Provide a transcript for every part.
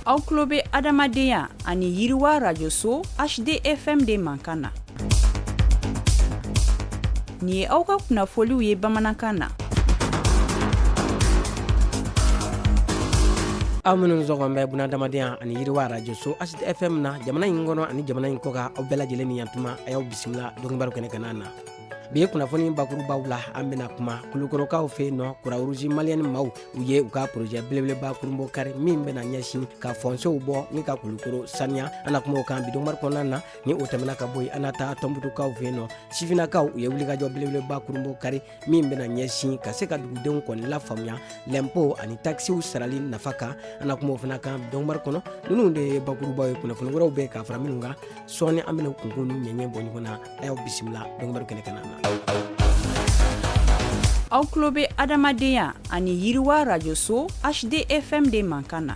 aw tulo bɛ adamadenya ani yiriwa radio so hdfm de mankan na nin ye aw ka kunnafoliw ye bamanankan na aw minnu sɔgɔlen bɛ buna adamadenya ani yiriwa radio so hdfm na jamana in kɔnɔ ani jamana in kɔkan aw bɛɛ lajɛlen ni yan tuma a y'aw bisimila donkibaru kɛnɛ kan na bi ye kunnafoni bakurubaw la an bɛna kuma kulukorokaw fɛ yen nɔ kurawuruzi maliyɛni maaw u ye u ka porojɛ belebeleba kurunbonkari min bɛna ɲɛsin ka fɔnsew bɔ ni ka kulukoro saniya an na kuma o kan bi donkibaru kɔnɔna na ni o tɛmɛna ka bɔ yen an na taa tɔnbutukaw fɛ yen nɔ sifinakaw u ye wulikajɔ belebeleba kurunbonkari min bɛna ɲɛsin ka se ka dugudenw kɔni lafaamuya lɛnpo ani takisiw sarali nafa kan an na kuma o fana kan bi donkibaru kɔnɔ nunu de ye bakurubaw ye kunnafoni wɛrɛw bɛ ka fara minnu kan sɔɔni an bɛna kunkun ni ɲɛɲɛ bɔ ɲɔgɔn na a y'aw bisimila donkibaru kɛnɛ kan na aw tulo bɛ adamadenya ani yiriwa rajoso hdfm de mankan na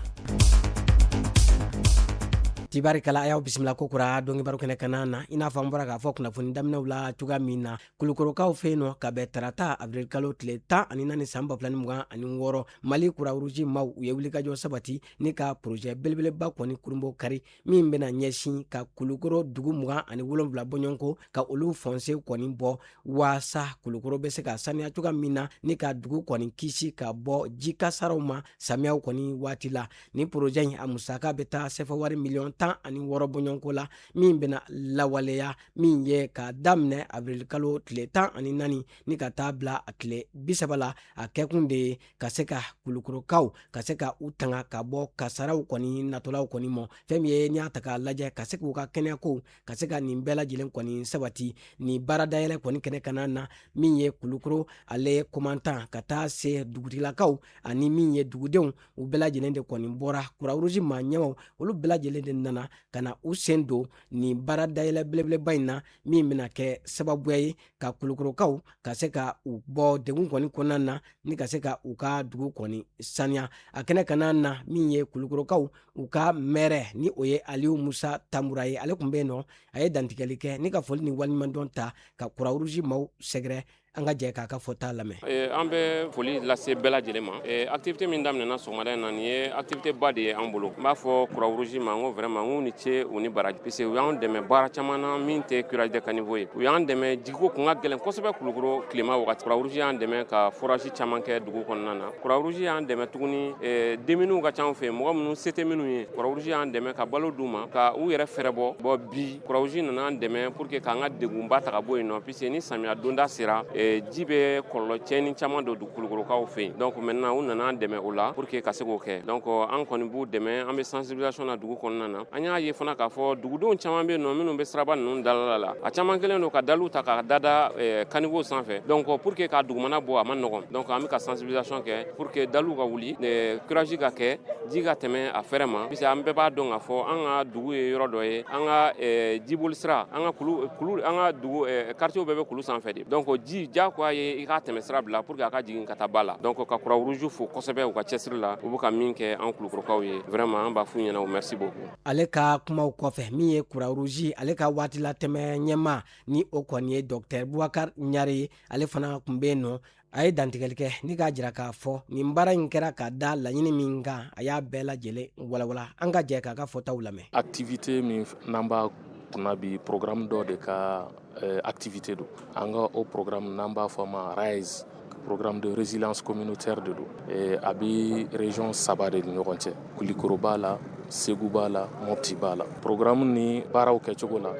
tibarikala a y'aw bisimila kokura donkibaru kɛnɛ kan na i n'a fɔ an bɔra k'a fɔ kunnafoni daminɛw la cogoya min na kulukorokaw fɛ yen nɔ ka bɛn tarata abirilikalo tile tan ani naani san ba filani mugan ani wɔɔrɔ mali kurawuruzi maaw u ye wulikajɔ sabati ni ka porozɛ belebeleba kɔni kurunbonkari min bɛna ɲɛsin ka kulukoro dugu mugan ani wolonwula bɔɲɔgɔnko ka olu fɔnse kɔni bɔ waasa kulukoro bɛ se ka saniya cogoya min na ni ka dugu kɔni kisi ka bɔ ji kasaraw ma samiyaw kɔni waati la ni porojɛ in a musaka bɛ taa sɛfɛwari miliyɔn tan ani wɔɔrɔ bɔɲɔgɔnko la min bɛna lawaleya min ye ka daminɛ abirilikalo tile tan ani naani ni ka taa bila a tile bisaba la a kɛkun de ye ka se ka kulukorokaw ka se ka u tanga ka bɔ kasaraw kɔni natɔlaw kɔni ma fɛn min ye n'i y'a ta k'a lajɛ ka se k'u ka kɛnɛyakow ka se ka nin bɛɛ lajɛlen kɔni sabati nin baaradayɛlɛ kɔni kɛnɛ kan na min ye kulukoro ale komandan ka taa se dugutigilakaw ani min ye dugudenw u bɛɛ lajɛlen de kɔni bɔra kurawuruzi maa ɲɛmaaw olu bɛɛ lajɛlen de nana ka na u sen don nin baaradayɛlɛ belebeleba in na min bɛna kɛ sababuya ye ka kulukorokaw ka se ka u bɔ degun kɔni kɔnɔna na ni ka se ka u ka dugu kɔni saniya a kɛnɛ kan na min ye kulukorokaw u ka mɛri ni o ye aliyu musa tanbura ye ale tun bɛ yen nɔ a ye dantigɛli kɛ ni ka foli ni waliɲumandɔn ta ka kurawuruzi maaw sɛgɛrɛ an ka jɛ k'a ka fɔta lamɛn an bɛ foli lase bɛɛ lajɛlen ma Eh, activité min daminɛna sɔgɔmada in na nin ye activité ba de ye an bolo n b'a fɔ kurawuruzi ma n ko vraiment n k'u ni ce u ni baraji puisque u y'an dɛmɛ baara caman na min tɛ curage de caniveau ye u y'an dɛmɛ jiko kun ka gɛlɛn kosɛbɛ kulukoro tilema wagati kurawuruzi y'an dɛmɛ ka forage caman kɛ dugu kɔnɔna na kurawuruzi y'an dɛmɛ tuguni eh, démuniw ka ca an fɛ mɔgɔ minnu se tɛ minnu ye kurawuruzi y'an dɛmɛ ka balo d'u ma ka u yɛrɛ fɛɛrɛ bɔ bon bi kurawuruzi nana an dɛmɛ pour que k'an ka degunba ta ka bɔ yen nɔ puisque ni samiya donda sera eh, ji bɛ kɔlɔlɔ cɛni caman don dugu kulukorokaw fɛ yen donc maintenant u nana an dɛmɛ o la pour que ka se k'o kɛ donc an kɔni b'u dɛmɛ an bɛ sensibilisation na dugu kɔnɔna na an y'a ye fana k'a fɔ dugudenw caman bɛ yen nɔ minnu bɛ siraba ninnu dalala la a caman kɛlen don ka daliw ta ka dada eh, caniveau sanfɛ donc pour que k'a dugumana bɔ a ma nɔgɔn donc an bɛ ka sensibilisation kɛ pour que daliw ka wuli eh, curage ka kɛ ji ka tɛmɛ a fɛrɛ ma puisque an bɛɛ b'a dɔn k'a fɔ an ka dugu ye yɔrɔ dɔ ye an ka eh, jiboli sira an ka kulu kulu an ka dugu quartier bɛɛ bɛ kulu sanfɛ de donc ji diyagoya ye i k'a tɛmɛsira bila pour que a ka jigin ka taa ba la donc ka croix rouge fo kosɛbɛ u ka cɛsiri la u bɛ ka min kɛ an kulukorokaw ye vraiment an b'a f'u ɲɛna o merci beaucoup ale ka kumaw kɔfɛ min ye croix rouge ale ka waatilatɛmɛ ɲɛmaa ni o kɔni ye docteur bubakar ɲare ye ale fana tun bɛ yen nɔ a ye dantigɛli kɛ ni k'a jira k'a fɔ nin baara in kɛra ka da laɲini min kan a y'a bɛɛ lajɛlen walawala an ka jɛ k'a ka fɔtaw lamɛn activité min n'an b'a kunna bi programme dɔ de ka eh, activité don an ka o programme n'an b'a fɔ a ma rise programme de résilience communautaire de don eh, a bɛ région saba de ni ɲɔgɔn cɛ kulikoro b'a la segu b'a la mopti b'a la programme ni baaraw kɛcogo la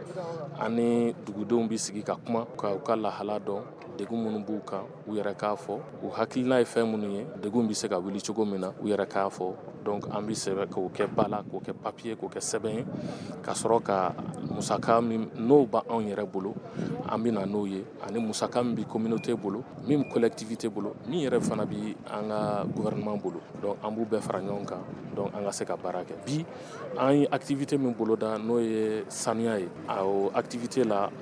an ni dugudenw bɛ sigi ka kuma ka u ka lahala dɔn degun minnu b'u kan u yɛrɛ k'a fɔ u hakilina ye fɛn minnu ye degun bɛ se ka wuli cogo min na u yɛrɛ k'a fɔ donc an bɛ sɛbɛn k'o kɛ ba la k'o kɛ papier k'o kɛ sɛbɛn ye ka sɔrɔ ka musaka n'o b'anw yɛrɛ bolo an bɛ na n'o ye ani musaka min bɛ communauté bolo min collectivité bolo min yɛrɛ fana bɛ an ka gouvernement bolo an b'u bɛɛ fara ɲɔgɔn kan donc an ka se ka baara kɛ bi an ye activité min boloda n'o ye sanuya ye a activité la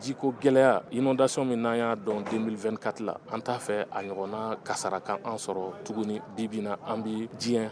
Jiko gɛlɛya inondation min n'an y'a dɔn 2024 la an t'a fɛ a ɲɔgɔnna kasara ka an sɔrɔ tuguni bi bi in na an bɛ diɲɛ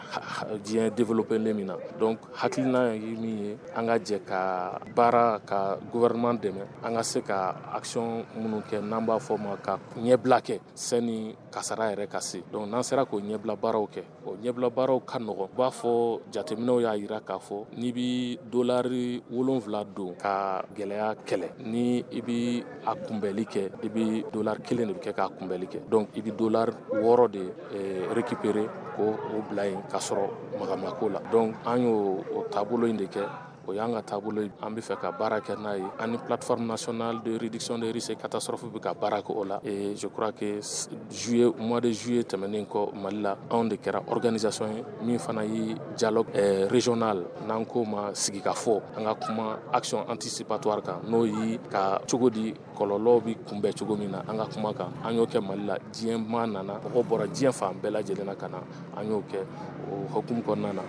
diɲɛ développer len min na donc hakilina ye min ye an ka jɛ ka baara ka gouvernement dɛmɛ an ka se ka action minnu kɛ n'an b'a fɔ o ma ka ɲɛbila kɛ sani kasara yɛrɛ ka se donc n'an sera k'o ɲɛbila baaraw kɛ o ɲɛbila baaraw ka nɔgɔn u b'a fɔ jateminɛw y'a yira k'a fɔ n'i bɛ dolari wolonfila don ka gɛlɛya kɛlɛ ni i bɛ a kunbɛli kɛ i bɛ dolari kelen de bɛ kɛ k'a kunbɛli kɛ donc i bɛ dolari wɔɔrɔ de eh, récupérer k'o bila yen k'a sɔrɔ magamako la donc an y'o taabolo in de kɛ o y'an ka taabolo ye an bɛ fɛ ka baara kɛ n'a ye an ni plateforme nationale de réduction des risques et catastrophes bɛ ka baara kɛ o la et je crois que juillet mois de juillet tɛmɛnen kɔ Mali la anw de kɛra organisation ye min fana ye dialogue eh, régional n'an k'o ma sigikafɔ an ka kuma action anticipatoire kan n'o ye ka cogo di kɔlɔlɔw bɛ kunbɛn cogo min na an ka kuma kan an y'o kɛ mali la diɲɛmaa nana mɔgɔw bɔra diɲɛ fan bɛɛ lajɛlen na ka na an y'o kɛ o hukumu kɔnɔna na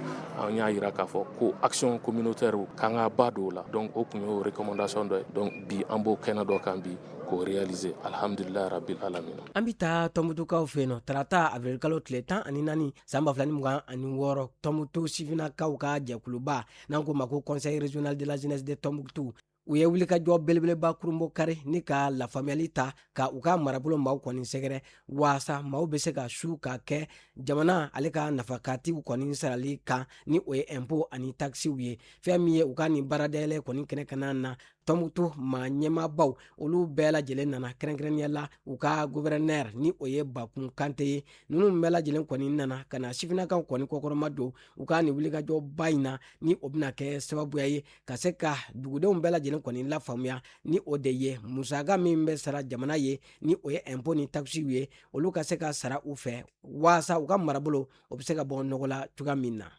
an y'a yira k'a fɔ ko action communautaire k'an ka ba don o la donc o tun y'o recommandation dɔ ye donc bi an b'o kɛnɛ dɔ kan bi k'o réaliser alhamdulilayi rabil alamina an bɛ taa tɔnbutukaw fɛ yen nɔ tarata avril-kalo tile tan ani naani san ba fila ni mugan ani wɔɔrɔ tɔnbutu sifinakaw ka jɛkuluba n'an k'o ma ko conseil régional de la jeunesse de tɔnbukutu u ye wulikajɔ belebeleba kurunbonkari ni ka lafaamuyali ta ka u ka marabolo maaw kɔni sɛgɛrɛ waasa maaw bɛ se ka su ka kɛ jamana ale ka nafakatiw kɔni sarali kan ni o ye ɛnpo ani takisiw ye fɛn min ye u ka nin baaradayɛlɛ kɔni kɛnɛ kana na tɔnbukutu maa ɲɛmaabaw olu bɛɛ lajɛlen nana kɛrɛnkɛrɛnnenya la u ka gouverneur ni o ye bakun kante ye ninnu bɛɛ lajɛlen kɔni nana ka na sifinakaw kɔni kɔkɔrɔmadon u ka nin wulikajɔba in na ni o bɛna kɛ sababuya ye ka se ka dugudenw bɛɛ lajɛlen kɔni lafaamuya ni o de ye musaka min bɛ sara jamana ye ni o ye ɛnpo ni takisiw ye olu ka se ka sara u fɛ waasa u ka marabolo o bɛ se ka bɔ nɔgɔ la cogoya min na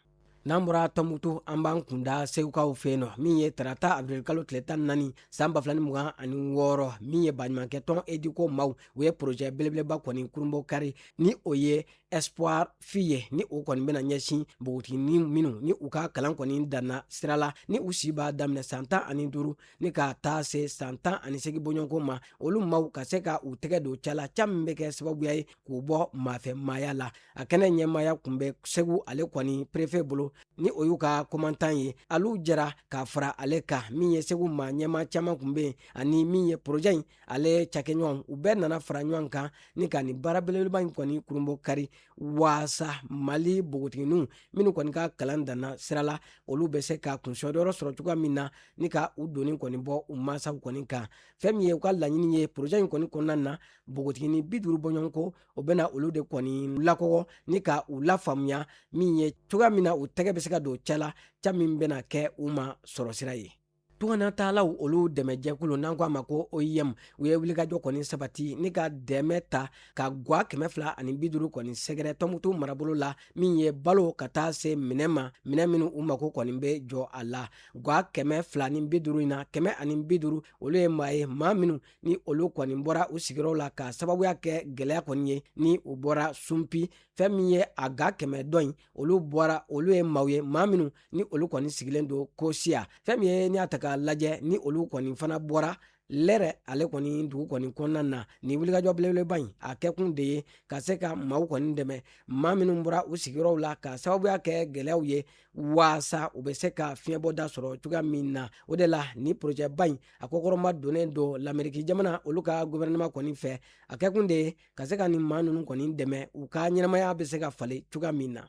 n'an bɔra tɔnbukutu an b'an kunda segukaw fɛ yen nɔ min ye tarata abirilkalo tile tan ni naani san ba fila ni mugan ani wɔɔrɔ min ye baɲumankɛ tɔn educo maaw u ye porojɛ belebeleba kɔni kurunbonkari ni o ye espoir filles ye ni o kɔni bɛna ɲɛsin bogotigini minnu ni u ka kalan kɔni danna sira la ni u si b'a daminɛ san tan ani duuru ni ka taa se san tan ani segin bɔɲɔgɔnko ma olu maaw ka se ka u tɛgɛ don ca la ca min bɛ kɛ sababuya ye k'u bɔ maafɛ maaya la a kɛnɛ ɲɛmaaya kun bɛ segu ale kɔni perefe bolo ni o y'u ka komantan ye olu jɛra ka fara ale kan min ye segu maa ɲɛmaa caman kun bɛ yen ani min ye porojɛ in ale cakɛɲɔgɔn u bɛɛ nana fara ɲɔgɔn kan ni ka nin baara belebeleba in kɔni kurunbonkari waasa mali bogotiginiw minnu kɔni ka kalan danna sira la olu bɛ se ka kunsɔdɔyɔrɔ sɔrɔ cogoya min na ni ka u doni kɔni bɔ u masaw kɔni kan fɛn min ye u ka laɲini ye porozɛ in kɔni kɔnɔna na bogotigini bi duuru bɔɲɔgɔnko o bɛna olu de kɔni lakɔgɔ ni ka u lafaamuya min ye cogoya min na u tɛgɛ bɛ se ka don ca la ca min bɛna kɛ u ma sɔrɔsira ye tungana taalaw olu dɛmɛjɛkulu n'an ko a ma ko oim u ye wulikajɔ kɔni sabati ni ka dɛmɛ ta ka gwa kɛmɛ fila ani bi duuru kɔni sɛgɛrɛ tɔnbukutu marabolo la min ye balo ka taa se minɛn ma minɛn minnu u mako kɔni bɛ jɔ a la gwa kɛmɛ fila ni bi duuru in na kɛmɛ ani bi duuru olu ye maa ye maa minnu ni olu kɔni bɔra u sigiyɔrɔ la ka sababuya kɛ gɛlɛya kɔni ye ni u bɔra sunpi fɛn min ye a gwa kɛmɛ dɔ in olu bɔra olu ye maaw ye maa minnu ni olu kɔni sigilen don kosiya fɛn min ye n'i y'a ta k'a lajɛ ni olu kɔni fana bɔra lɛrɛ ale kɔni dugu kɔni kɔnɔna na nin wulikajɔ belebeleba in a kɛkun de ye ka se ka maaw kɔni dɛmɛ maa minnu bɔra u sigiyɔrɔw la ka sababuya kɛ gɛlɛyaw ye waasa u bɛ se ka fiɲɛbɔda sɔrɔ cogoya min na o de la ni porojɛba in a kɔkɔrɔma donnen don lameriki jamana olu ka guvɛrɛnɛma kɔni fɛ a kɛkun de ye ka se ka nin maa ninnu kɔni dɛmɛ u ka ɲɛnamaya bɛ se ka falen cogoya min na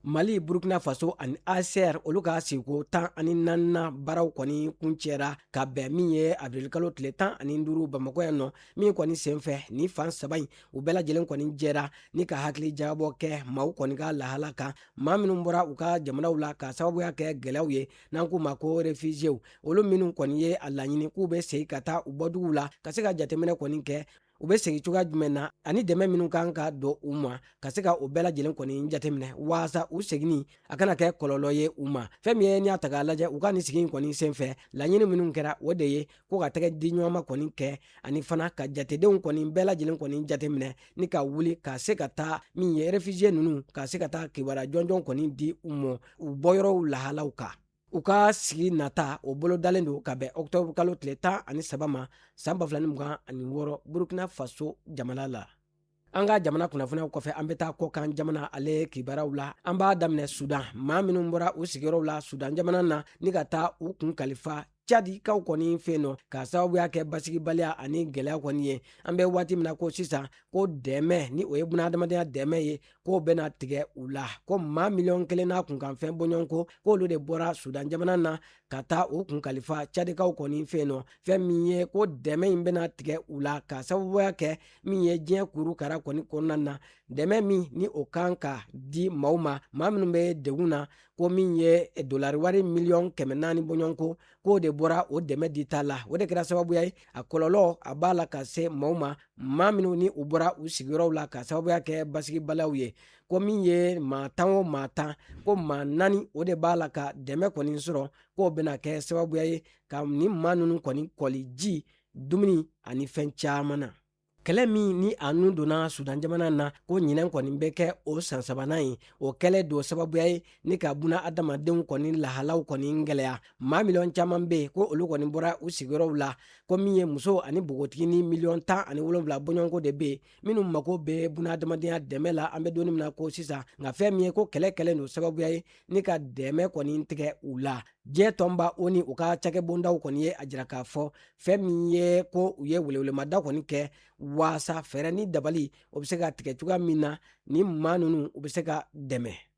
Mali Burkina Faso ani HCR olu ka sigiko tan ani naaninan baaraw kɔni kuncɛra ka bɛn min ye avril-kalo tile tan ani duuru Bamakɔ yan nɔ min kɔni senfɛ nin fan saba in u bɛɛ lajɛlen kɔni jɛra ni ka hakilijagabɔ kɛ maaw kɔni ka lahala kan maa minnu bɔra u ka jamanaw la ka sababuya kɛ gɛlɛyaw ye n'an k'u ma ko refusiyew olu minnu kɔni ye a laɲini k'u bɛ segin ka taa u bɔduguw la ka se ka jateminɛ kɔni kɛ u bɛ segin cogoya jumɛn na ani dɛmɛ minnu kan ka don u ma ka se ka o bɛɛ lajɛlen kɔni jateminɛ waasa u seginni a kana kɛ kɔlɔlɔ ye u ma fɛn min ye n'i y'a ta k'a lajɛ u ka nin sigi in kɔni senfɛ laɲini minnu kɛra o de ye ko ka tɛgɛdiɲɔgɔnma kɔni kɛ ani fana ka jatedenw kɔni bɛɛ lajɛlen kɔni jateminɛ ni ka wuli ka se ka taa min ye refusiye ninnu ka se ka taa kibaruya jɔnjɔn kɔni di u ma u bɔyɔrɔw lahalaw kan u ka sigi nata o bolodalen don ka bɛn octobre kalo tile tan ani saba ma san ba fila ni mugan ani wɔɔrɔ burkina faso jamana la an ka jamana kunnafoniyaw kɔfɛ an bɛ taa kɔkan jamana ale kibaraw la an b'a daminɛ sudan maa minnu bɔra u sigiyɔrɔw la sudan jamana na ni ka taa u kun kalifa cadikaw kɔni fɛ yen nɔ k'a sababuya kɛ basigibaliya ani gɛlɛya kɔni ye an bɛ waati min na ko sisan ko dɛmɛ ni o ye bunahadamadenya dɛmɛ ye k'o bɛna tigɛ u la ko maa miliyɔn kelen n'a kunkanfɛn bɔɲɔgɔnko k'olu de bɔra sudan jamana na ka taa u kun kalifa cadikaw kɔni fɛ yen nɔ fɛn min ye ko dɛmɛ in bɛna tigɛ u la ka sababuya kɛ min ye diɲɛ kuru kara kɔni kɔnɔna na dɛmɛ min ni o kan ka di maaw ma maa minnu bɛ degun na ko min ye dolari wari miliyɔn kɛmɛ naani bɔɲɔgɔnko k'o de bɔra o dɛmɛ dita la o de kɛra sababuya ye a kɔlɔlɔ a b'a la ka se maaw ma maa minnu ni u bɔra u sigiyɔrɔw la ka sababuya kɛ basigibaliyaw ye ko min ye maa tan o maa tan ko maa naani o de b'a la ka dɛmɛ kɔni sɔrɔ k'o bɛna kɛ sababuya ye ka nin maa ninnu kɔni kɔli ji dumuni ani fɛn caman na kɛlɛ min ni a nun donna sudan jamana na ko ɲinɛn kɔni bɛ kɛ o san sabanan ye o kɛlen don sababuya ye ni ka buna adamadenw kɔni lahalaw kɔni gɛlɛya maa miliyɔn caman be yen ko olu kɔni bɔra u sigiyɔrɔw la ko min ye muso ani npogotiginin miliyɔn tan ani wolonfila bɔɲɔgɔnko de be yen minnu mako be buna adamadenya dɛmɛ la an be donni min na ko sisan nka fɛn min ye ko kɛlɛ kɛlen don sababuya ye ni ka dɛmɛ kɔni tigɛ u la diɲɛ tɔnba ONU ka cakɛbondaw kɔni ye a jira k'a fɔ fɛn min ye ko u ye welewelemada kɔni kɛ waasa fɛɛrɛ ni dabali o bɛ se ka tigɛ cogoya min na ni maa ninnu u bɛ se ka dɛmɛ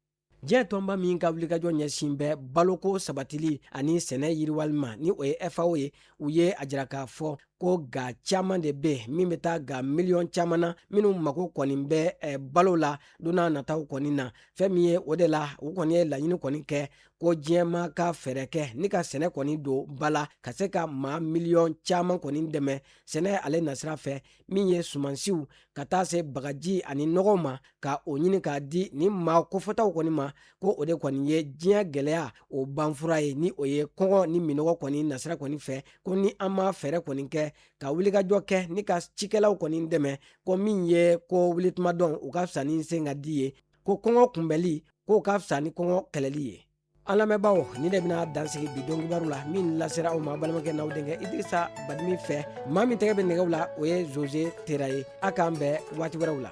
diɲɛ tɔnba min ka wulikajɔ ɲɛsin bɛ baloko sabatili ani sɛnɛ yiriwali ma ni o ye fao ye u ye a jira k'a fɔ ko ga caman de bɛ min bɛ taa ga miliyɔn caman na minnu mako kɔni bɛ eh, balo la don nataw kɔni na fɛn min ye o de la u kɔni ye laɲini kɔni kɛ ko diɲɛmaa ka fɛɛrɛ kɛ ni ka sɛnɛ kɔni don ba la ka se ka maa miliyɔn caman kɔni dɛmɛ sɛnɛ ale nasira fɛ min ye sumansiw ka taa se bagaji ani nɔgɔw ma ka o ɲini k'a di ni maa kofɔtaw kɔni ma ko o de kɔni ye diɲɛ gɛlɛya o banfura ye ni o ye kɔngɔ ni minɔgɔ kɔni nasira kɔni fɛ ko ni an ma fɛɛrɛ kɔni kɛ ka wulikajɔ kɛ ni ka cikɛlaw kɔni dɛmɛ ko min ye ko wulitumadɔn o ka fisa ni sen ka di ye ko kɔngɔ kunbɛnli k'o ka fisa ni kɔngɔ kɛlɛli ye an lamɛnbaaw nin de bɛna dan sigi bi donkibaru la min lasera aw ma balimakɛ n'aw denkɛ idrisa badimi fɛ maa min tɛgɛ bɛ nɛgɛw la o ye zoze tera ye a k'an bɛn waati wɛrɛw la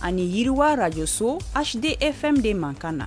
ani yiriwa arajoso hdfm de mankan na